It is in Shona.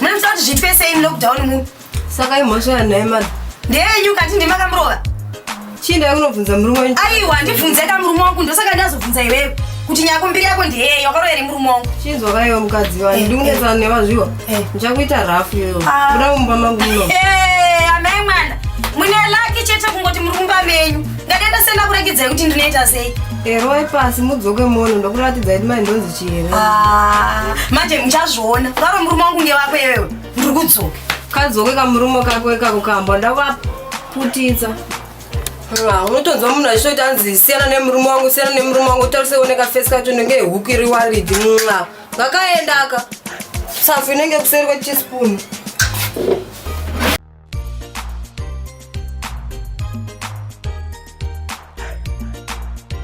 Munoita kuti zviitwe sei mulockdown mu? Saka imhosva yanaye mani. Ndeyenyu kati ndimi makamurova? Chii ndave kunobvunza murume wenyu? Aiwa ndibvunze ka murume wangu ndosaka ndazobvunza iwewe kuti nyako mbiri yako ndeye yakarova here murume wangu chinzwa kaiwa mukadzi wani eh, ndikunetsana eh. nevazviwa eh. ndichakuita rafu iyoyo ah. kuda kumba mangu muno amai mwana mune laki chete kungoti muri kumba menyu ngatenda senda kuratidzai kuti ndinoita sei eroi pasi mudzoke mono ndokuratidza kuti mai ndonzi Ah, manje muchazviona varo murume wangu nge wako iwewe ndiri kudzoka kadzoke kamurume kako ikako kamba ndavaputidza Ah, unotonzwa munhu achitoti anzi siyana nemurume wangu siyana nemurume wangu tariseoneka fesi kacho nenge huku iri waridi mwa ngakaendaka safu inenge kuseri kwechispoon